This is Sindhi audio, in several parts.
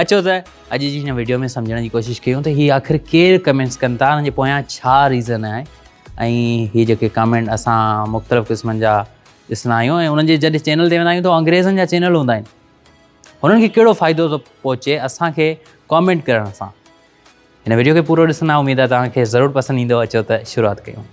اچو ته اڄ جي هن ويڊيو ۾ سمجهڻ جي ڪوشش ڪيون ته هي آخر ڪير ڪمينٽس ڪن ٿا هن جي پويان ڇا ريزن آهي ۽ هي جيڪي ڪمينٽ اسان مختلف قسمن جا ڏسندا آهيون ۽ انهن جي جڏهن چينل تي ويندا آهيون ته انگريزن جا چينل هوندا آهن هنن کي ڪهڙو فائدو ٿو پهچي اسانکي ڪامينٽ ڪرڻ سان هن ويڊيو کي پورو ڏسندا اميد آهي توهان کي ضرور پسند ايندو اچو ته شروعات ڪيون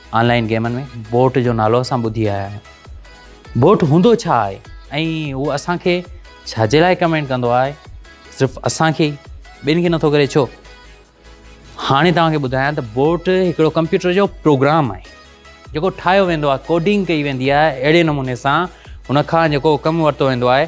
آن لائن گيمن ۾ بوٽ جو نالو اسان ٻڌي آيا آهيون بوٽ هوندو ڇا آهي ۽ هو اسانکي ڇا جي لاء ڪمينٽ ڪندو آهي صرف اسانکي ٻين کي نٿو ڪري ڇو هاڻي توهانکي ٻڌايان ته بوٽ هڪڙو ڪمپيوٽر جو پروگرام آهي جيڪو ٺاهيو ويندو آهي ڪوڊنگ ڪئي ويندي آهي اهڙي نموني سان ان کان جيڪو ڪم ورتو ويندو آهي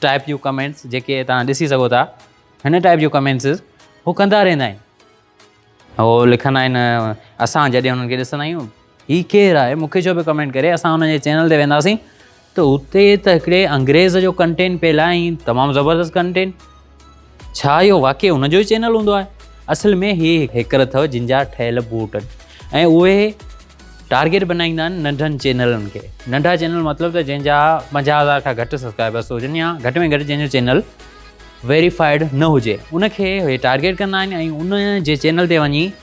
ٽائپ جون ڪمينٽس جيڪي توهان ڏسي سگهو ٿا هن ٽائپ جون ڪمينٽس هو ڪندا رهندا آهن هو لکندا آهن اسان جڏهن هنن کي ڏسندا آهيون هي ڪير آهي مون کي ڇو پيو ڪمينٽ ڪري اسان هن جي چينل تي وينداسين ته اتي ته هڪڙي انگريز جو ڪنٽينٽ پيل آهي تمام زبردست ڪنٽينٽ ڇا اهو واقعي ان جو ئي چينل هوندو آهي اصل ۾ هي هيڪر اٿو جن جا ٺهيل بوٽ آهن ۽ اهي ٽارگيٽ بنائيندا آهن ننڍن چينلن کي ننڍا چينل مطلب ته جنهن جا پنجاهه هزار کان گهٽ سبسڪرائبرس هجن يا گهٽ ۾ گهٽ جنهن جو چينل ويريفائيڊ نه هجي ان کي هي ٽارگيٽ ڪندا آهن ۽ ان جي چينل تي وڃي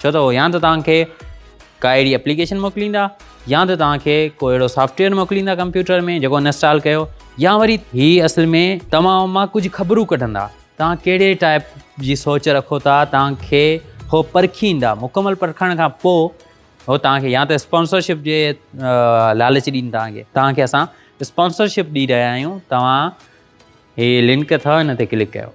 ڇو ته هو يا ته توهان کي ڪا اهڙي اپليڪيشن موڪليندا يا ته توهان کي ڪو اهڙو سافٽويئر موڪليندا ڪمپيوٽر ۾ جيڪو انسٽال ڪيو يا وري هي اصل ۾ توهان مان ڪجهه خبرون ڪڍندا توهان ڪهڙي ٽائپ جي سوچ رکو ٿا توهان کي هو پرکيندا مڪمل پرکڻ کان پوء هو توهان کي يا ته اسپانسرشپ جي لالچ ڏين توهان کي توهان کي اسان اسپانسرشپ ڏي رهيا آهيون توهان هي لنڪ اٿو هن تي ڪلڪ ڪيو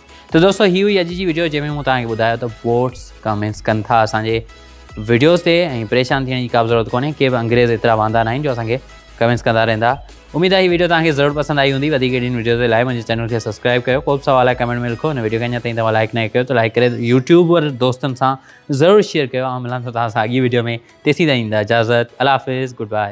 ته دوستو هي هئي اڄ جي ويڊيو جنهن ۾ مون توهان کي ٻڌايو ته بوٽس ڪمينس ڪن ٿا اسان جي ويڊيوز تي ۽ پريشان ٿيڻ جي ڪا به ضرورت ڪونهي ڪي به انگريز ايترا واندا ناهن جو اسان کي ڪمينس ڪندا رهندا اميد آهي هي ويڊيو توهان کي ضرور پسند آئي هوندي وڌيڪ اهڙين ويڊيوز جي لاء منهنجي چينل کي سبسڪرائب ڪيو ڪو به سوال آهي ڪمينٽ ۾ لکو هن ويڊيو کي اڃا تائين توهان لائڪ نه ڪيو ته لائڪ ڪري يوٽيوبر دوستن سان ضرور شيئر ڪيو آئون ملان ٿو توهان سان اڳي ويڊيو ۾ تيسين تائين ڏيندا اجازت الله حافظ گڊ باء